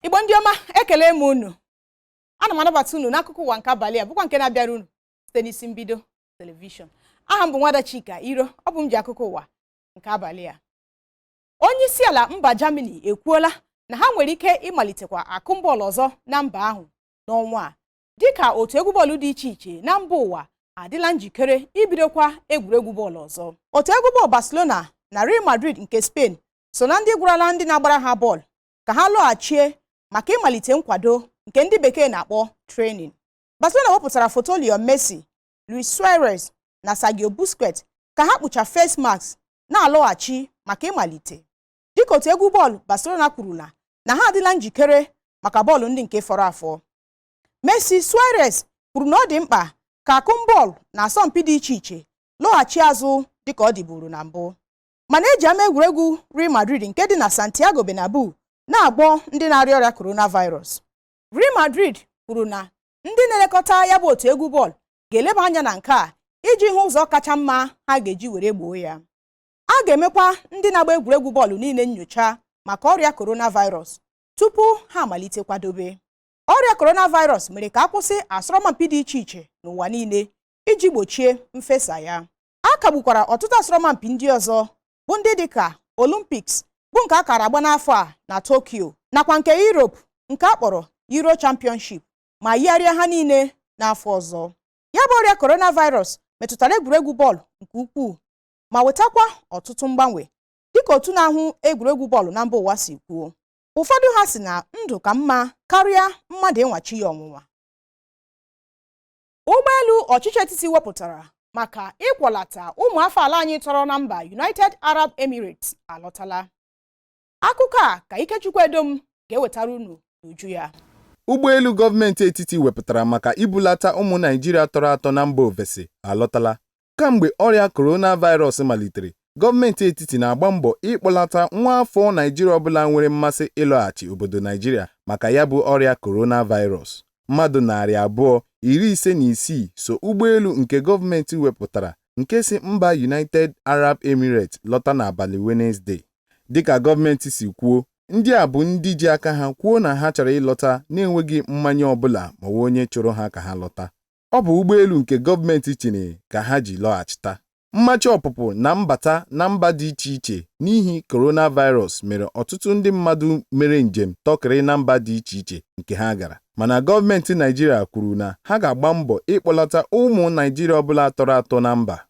igbo ndị ọma ekele m unu ana m anabata unu n'akụkọ ụwa nke abalị a bụkwa nke na-abịara unu site n'isi mbido telivishọn aha m bụ nwada chika iro ọ bụ m ji akụkọ ụwa nke abalị a onye isi ala mba Germany ekwuola na ha nwere ike ịmalitekwa akụm bọọlụ ọzọ na mba ahụ n'ọnwa a dịka otu egwu bọọlụ dị iche iche na mba ụwa adịla njikere ibidokwa egwuregwu bọọlụ ọzọ otu egwu bọọlụ Barcelona na Real Madrid nke Spain so na ndị gwarala ndị na-agbara ha bọọlụ ka ha lọghachie maka ịmalite nkwado nke ndị bekee na-akpọ training Barcelona wepụtara foto Lionel Messi Luis Suarez na Sergio Busquets ka ha kpucha face mask na-alọghachi maka ịmalite dịka otu egwu bọọlụ Barcelona kwurula na ha adịla njikere maka bọọlụ ndị nke fọrọ afọ Messi Suarez kwuru na ọ dị mkpa ka akụm bọọlụ na asọmpi dị iche iche lọghachi azụ dịka ọ dịburu na mbụ mana e ji ama egwuregwu Real Madrid nke dị na Santiago Bernabeu na-agwọ ndị na-arịa ọrịa coronavirus Real Madrid kwuru na ndị na-elekọta ya bụ otu egwu bọọlụ ga-eleba anya na nke a iji hụ ụzọ kacha mma ha ga-eji were gboo ya a ga-emekwa ndị na-agba egwuregwu bọọlụ niile nyocha maka ọrịa coronavirus tupu ha amalite kwadobe ọrịa coronavirus mere ka a kwụsị asọrọmpi dị iche iche n'ụwa niile iji gbochie mfesa ya a kagbukwara ọtụtụ asọrọmpi ndị ọzọ bụ ndị dịka Olympics bụ nke a kara agba n'afọ a na Tokyo nakwa nke Europe nke a kpọrọ Euro Championship ma yigharịa ha niile n'afọ ọzọ ya bụ ọrịa coronavirus metụtara egwuregwu bọọlụ nke ukwuu ma wetakwa ọtụtụ mgbanwe dịka otu na-ahụ egwuregwu bọọlụ na mba ụwa si kwuo ụfọdụ ha sị na ndụ ka mma karịa mmadụ ịnwa chi ya ọnwụnwa Ụgbọelu ọchịchị etiti wepụtara maka ịkwọlata ụmụafọ ala anyị tọrọ na mba United Arab Emirates alọtala. Akụkọ a ka Ikechukwu Edom ga-ewetara unu n'uju ya. Ụgbọelu gọọmenti etiti wepụtara maka ibulata ụmụ Naịjirịa tọrọ atọ na mba ofesi alọtala. Kamgbe ọrịa coronavirus malitere, gọọmenti etiti na-agba mbọ ịkpọlata nwa afọ Naịjirịa ọbụla nwere mmasị ịlọghachi obodo Naịjirịa maka ya bụ ọrịa coronavirus. Mmadụ narị abụọ, iri ise na isii so ụgbọelu nke gọọmenti wepụtara nke si mba United Arab Emirates lọta n'abalị Wenezde. Dịka gọọmenti si kwuo, ndị a bụ ndị ji aka ha kwuo na ha chọrọ ịlọta na-enweghị mmanye ọbụla ma ọ wụ onye chụrụ ha ka ha lọta. ọ bụ ụgbọelu nke gọọmenti chịrị ka ha ji lọghachita. Mmachi ọpụpụ na mbata na mba dị iche iche n'ihi coronavirus mere ọtụtụ ndị mmadụ mere njem tọkịrị na mba dị iche iche nke ha gara. Mana gọọmenti Naịjirịa kwuru na ha ga-agba mbọ ịkpọlata ụmụ Naịjirịa ọbụla tọrọ atọ na mba.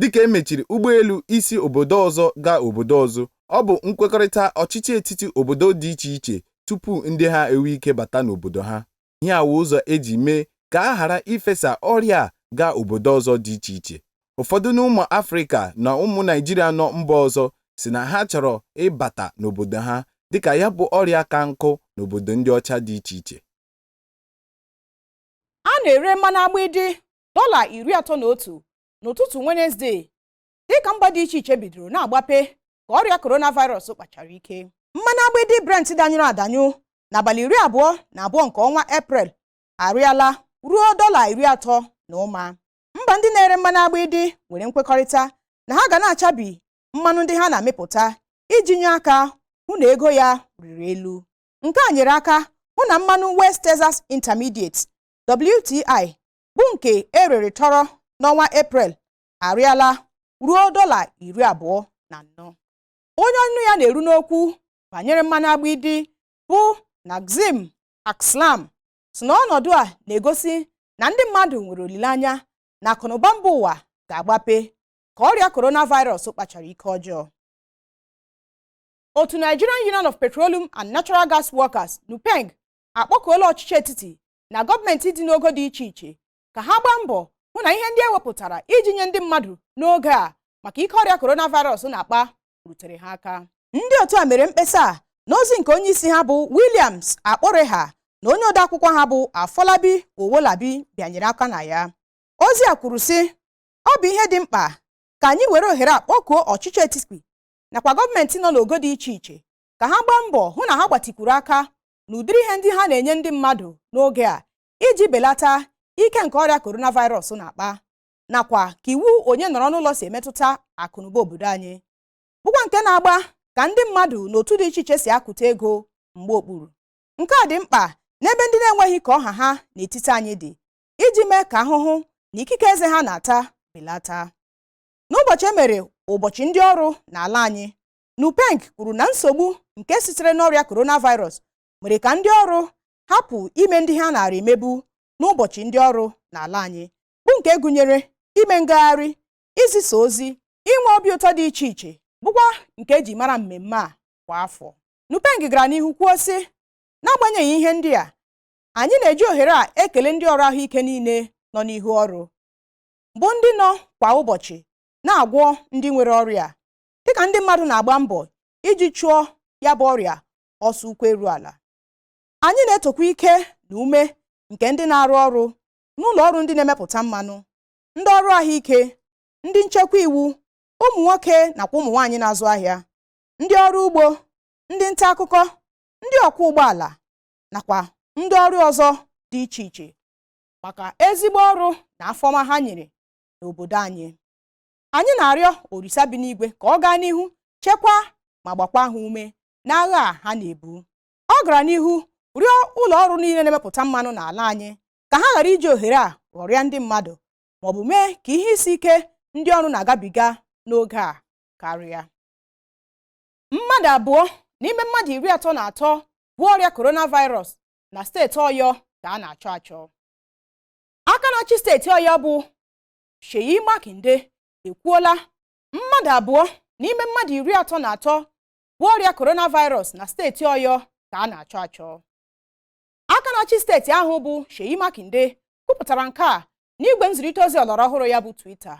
dịka e mechiri ụgbọelu isi obodo ọzọ gaa obodo ọzọ. Ọ bụ nkwekọrịta ọchịchị etiti obodo dị iche iche tupu ndị ha enwe ike bata n'obodo ha. Ihe a wụ ụzọ e ji mee ka a ghara ifesa ọrịa a gaa obodo ọzọ dị iche iche. Ụfọdụ n'ụmụ Afrịka na ụmụ Naịjirịa nọ mba ọzọ sị na ha chọrọ ịbata n'obodo ha dịka ya bụ ọrịa ka nkụ n'obodo ndị ọcha dị iche iche. A na-ere mmanụ agbịdị dọla iri atọ na otu n'ụtụtụ Wenezdee dịka mba dị iche iche bidoro na-agbape ka ọrịa coronavirus kpachara ike mmanụ agbịdị Brent danyụrụ adanyụ n'abalị iri abụọ na abụọ nke ọnwa Eprel arịala ruo dọla iri atọ na ụma mba ndị na-ere mmanụ agbịdị nwere nkwekọrịta na ha ga na-achabi mmanụ ndị ha na-amịpụta iji nye aka hụ na ego ya rịrị elu nke a nyere aka hụ na mmanụ West Texas Intermediate WTI bụ nke erere tọrọ n'ọnwa eprel arịala ruo dọla iri abụọ na anọ onye ọnụ ya na-eru n'okwu banyere mmanụ agbịdị bụ Nazim Akslam sị na ọnọdụ a na-egosi na ndị mmadụ nwere olileanya na akụnụba mba ụwa ga-agbape ka ọrịa coronavirus kpachara ike ọjọọ otu Nigerian Union of Petroleum and Natural Gas Workers NUPENG akpọkuola ọchịchị etiti na gọọmenti dị n'ogo dị iche iche ka ha gbaa mbọ hụ na ihe ndị ewepụtara iji nye ndị mmadụ n'oge a maka ike ọrịa coronavirus na-akpa rutere ha aka ndị otu a mere mkpesa a n'ozi nke onye isi ha bụ Williams Akporeha na onye odeakwụkwọ ha bụ Afolabi Owolabi bịanyere aka na ya ozi a kwuru sị ọ bụ ihe dị mkpa ka anyị were ohere a kpọkuo ọchịchị etiti nakwa gọọmenti nọ n'ogo dị iche iche ka ha gbaa mbọ hụ na ha gbatịkwuru aka n'ụdịrị ihe ndị ha na-enye ndị mmadụ n'oge a iji belata ike nke ọrịa coronavirus na-akpa nakwa ka iwu onye nọrọ n'ụlọ si emetụta akụnụba obodo anyị bụkwa nke na-agba ka ndị mmadụ na otu dị iche iche si akụta ego mgba okpuru nke a dị mkpa n'ebe ndị na-enweghị ka ọ ha ha n'etiti anyị dị iji mee ka ahụhụ na ikike eze ha na-ata belata n'ụbọchị e mere ụbọchị ndị ọrụ n'ala anyị Nupeng kwuru na nsogbu nke sitere n'ọrịa coronavirus mere ka ndị ọrụ hapụ ime ndị ha naara emebu n'ụbọchị ndị ọrụ n'ala anyị bụ nke gụnyere ime ngagharị izisa ozi inwe obi ụtọ dị iche iche bụkwa nke eji mara mmemme a kwa afọ Nupeng gara n'ihu kwuo sị n'agbanyeghị ihe ndị a anyị na-eji ohere a ekele ndị ọrụ ahụike niile nọ n'ihu ọrụ bụ ndị nọ kwa ụbọchị na-agwọ ndị nwere ọrịa dịka ndị mmadụ na-agba mbọ iji chụọ ya bụ ọrịa ọsọ ụkwụ eru ala anyị na-etokwa ike na ume nke ndị na-arụ ọrụ n'ụlọ ọrụ ndị na-emepụta mmanụ ndị ọrụ ahụike ndị nchekwa iwu ụmụ nwoke nakwa ụmụ nwaanyị na-azụ ahịa ndị ọrụ ugbo ndị nta akụkọ ndị ọkwọ ụgbọala nakwa ndị ọrụ ọzọ dị iche iche maka ezigbo ọrụ na afọma ha nyere n'obodo anyị anyị na-arịọ orisa bi n'igwe ka ọ gaa n'ihu chekwaa ma gbakwaa ha ume n'agha a ha na-ebu ọ gara n'ihu rịọ ụlọ ọrụ niile na-emepụta mmanụ n'ala anyị ka ha ghara iji ohere a ghọrịa ndị mmadụ ma ọ bụ mee ka ihe isi ike ndị ọrụ na-agabiga n'oge a karịa mmadụ abụọ n'ime mmadụ iri atọ na atọ bu ọrịa coronavirus na steeti ọyọ ka a na-achọ achọ aka na-achị steeti ọyọ bụ Seyi Makinde ekwuola mmadụ abụọ n'ime mmadụ iri atọ na atọ bu ọrịa coronavirus na steeti Ọyọ ka a na-achọ achọ aka na-achị steeti ahụ bụ Seyi Makinde kwupụtara nke a n'igwe nzirịta ozi ọlọrọ ọhụrụ ya bụ Twitter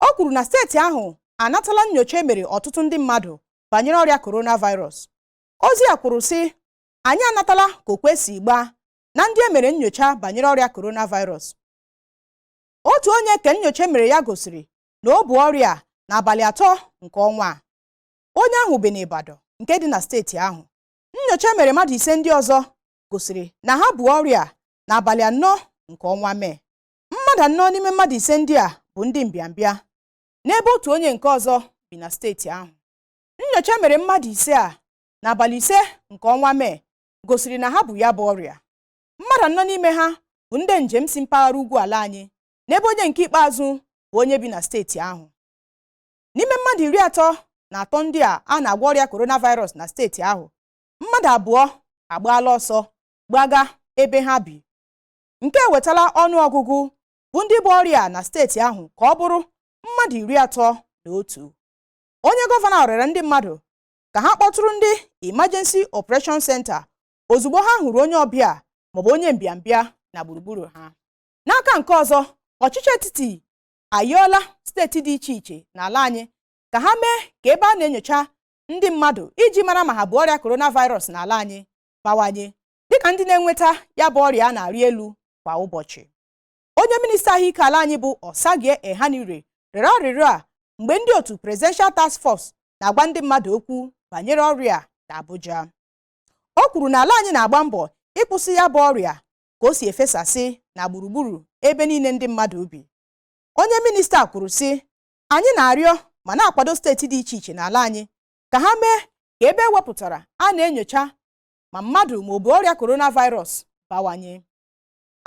o kwuru na steeti ahụ anatala nnyocha e mere ọtụtụ ndị mmadụ banyere ọrịa coronavirus ozi a kwuru sị anyị anatala ka okwe si gbaa na ndị e mere nnyocha banyere ọrịa coronavirus otu onye ka nnyocha e mere ya gosiri na o bu ọrịa a n'abalị atọ nke ọnwa a onye ahụ bi n'Ibadan nke dị na steeti ahụ nnyocha e mere mmadụ ise ndị ọzọ gosiri na ha bu ọrịa a n'abalị anọ nke ọnwa mee mmadụ anọ n'ime mmadụ ise ndị a bụ ndị mbịambịa n'ebe otu onye nke ọzọ bi na steeti ahụ nnyocha e mere mmadụ ise a n'abalị ise nke ọnwa mee gosiri na ha bu ya bụ ọrịa mmadụ anọ n'ime ha bụ ndị njem si mpaghara ugwu ala anyị n'ebe onye nke ikpeazụ bụ onye bi na steeti ahụ n'ime mmadụ iri atọ na atọ ndị a a na-agwọ ọrịa coronavirus na steeti ahụ mmadụ abụọ agbaala ọsọ gbaga ebe ha bi nke ewetala ọnụ ọgụgụ bụ ndị bu ọrịa na steeti ahụ ka ọ bụrụ mmadụ iri atọ na otu onye gọvanọ rịọrọ ndị mmadụ ka ha kpọtụrụ ndị Emergency Operation Center ozugbo ha hụrụ onye ọbịa maọbụ onye mbịambịa na gburugburu ha n'aka nke ọzọ ọchịchị etiti ayọọla steeti dị iche iche n'ala anyị ka ha mee ka ebe a na-enyocha ndị mmadụ iji mara ma ha bu ọrịa coronavirus n'ala anyị bawanye dịka ndị na-enweta ya bụ ọrịa na-arị elu kwa ụbọchị onye minista ahụike ala anyị bụ Osagie Ehanire rịọrọ arịrịọ a mgbe ndị otu Presidential Task Force na-agwa ndị mmadụ okwu banyere ọrịa na Abuja O kwuru na ala anyị na-agba mbọ ịkwụsị ya bụ ọrịa ka o si efesasị na gburugburu ebe niile ndị mmadụ bi. Onye minista kwuru sị, Anyị na-arịọ ma na-akwado steeti dị iche iche n'ala anyị ka ha mee ka ebe e wepụtara a na-enyocha ma mmadụ ma o bu ọrịa coronavirus bawanye.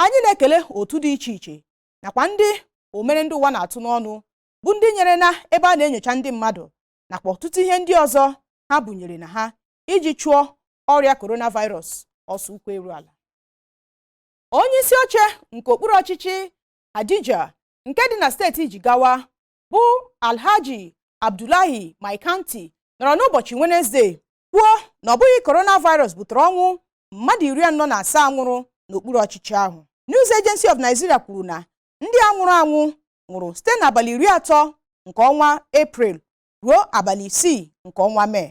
Anyị na-ekele otu dị iche iche nakwa ndị omere ndị ụwa na-atụ n'ọnụ bụ ndị nyere na ebe a na-enyocha ndị mmadụ nakwa ọtụtụ ihe ndị ọzọ ha bunyere na ha iji chụọ ọrịa coronavirus ọsọ ụkwụ eru ala onye isi oche nke okpuru ọchịchị Hadejia nke dị na steeti Jigawa bụ Alhaji Abdullahi Maikanti nọrọ n'ụbọchị Wenezde kwuo na ọ bụghị coronavirus butere ọnwụ mmadụ iri anọ na asaa nwụrụ n'okpuru ọchịchị ahụ News Agency of Nigeria kwuru na ndị a nwụrụ anwụ nwụrụ site n'abalị iri atọ nke ọnwa Eprel ruo abalị isii nke ọnwa Mee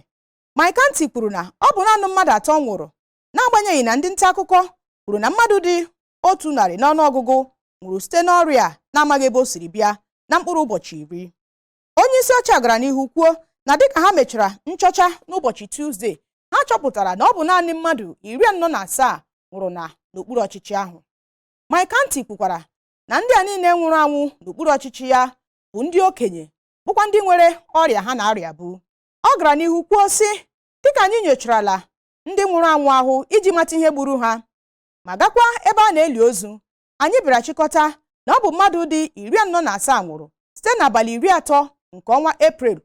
Maikanti kwuru na ọ bụ naanị mmadụ atọ nwụrụ n'agbanyeghị na ndị nta akụkọ kwuru na mmadụ dị otu narị n'ọnụọgụgụ nwụrụ site n'ọrịa a na-amaghị ebe o siri bịa na mkpụrụ ụbọchị iri onye isi oche a gara n'ihu kwuo na dịka ha mechara nchọcha n'ụbọchị Tuzde ha chọpụtara na ọ bụ naanị mmadụ iri anọ na asaa nwụrụ na n'okpuru ọchịchị ahụ Maikanti kwukwara na ndị a niile nwụrụ anwụ n'okpuru ọchịchị ya bụ ndị okenye bụkwa ndị nwere ọrịa ha na-arịabu Ọ gara n'ihu kwuo sị dịka anyị nyocharala ndị nwụrụ anwụ ahụ iji mata ihe gburu ha ma gakwa ebe a na-eli ozu anyị bịara chịkọta na ọ bụ mmadụ dị iri anọ na asaa nwụrụ site n'abalị iri atọ nke ọnwa Eprel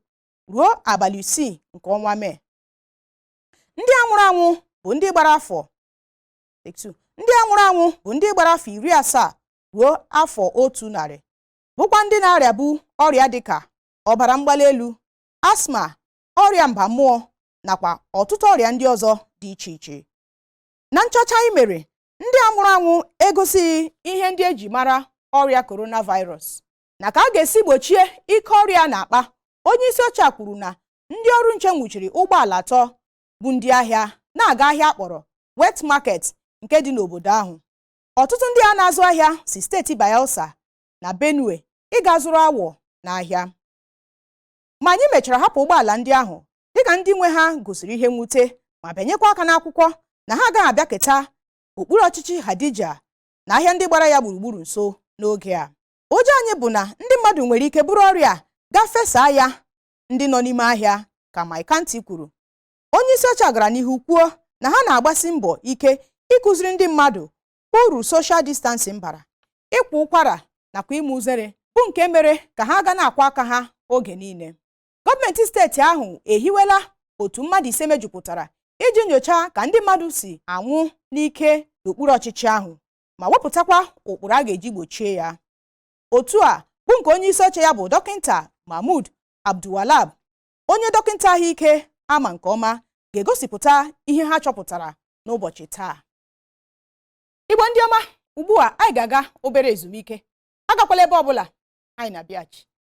ruo abalị isii nke ọnwa Mee ndị a nwụrụ anwụ bụ ndị gbara afọ iri asaa ruo afọ otu narị bụkwa ndị na-arịabu ọrịa dịka ọbara mgbali elu asma ọrịa mba mmụọ nakwa ọtụtụ ọrịa ndị ọzọ dị iche iche na nchọcha anyị mere ndị a nwụrụ anwụ egosighị ihe ndị e ji mara ọrịa coronavirus na ka a ga-esi gbochie ike ọrịa a na-akpa onye isi oche a kwuru na ndị ọrụ nche nwụchiri ụgbọala atọ bu ndị ahịa na-aga ahịa a kpọrọ wet market nke dị n'obodo ahụ ọtụtụ ndị a na-azụ ahịa si steeti Bayelsa na Benue ịga zụrụ awọ n'ahịa ma anyị mechara hapụ ụgbọala ndị ahụ dịka ndị nwe ha gosiri ihe mwute ma bịanyekwa aka n'akwụkwọ na ha agaghị abịaketa okpuru ọchịchị Hadejia na ahịa ndị gbara ya gburugburu nso n'oge a ụjọ anyị bụ na ndị mmadụ nwere ike buru ọrịa a gaa fesaa ya ndị nọ n'ime ahịa ka Maikanti kwuru onye isi oche a gara n'ihu kwuo na ha na-agbasi mbọ ike ịkụziri ndị mmadụ uru social distancing bara ịkwa ụkwara nakwa ime uzere bụ nke mere ka ha ga na-akwọ aka ha oge niile gọọmenti steeti ahụ ehiwela otu mmadụ ise mejupụtara iji nyochaa ka ndị mmadụ si anwụ n'ike n'okpuru ọchịchị ahụ ma wepụtakwa ụkpụrụ a ga-eji gbochie ya otu a bụ nke onye isi oche ya bụ dọkịta mahmud abdulwahab onye dọkịta ahụike ama nke ọma ga-egosipụta ihe ha chọpụtara n'ụbọchị taa igbo ndị ọma ugbu a anyị ga-aga obere ezumike agakwala ebe ọbụla anyị na-abịaghachi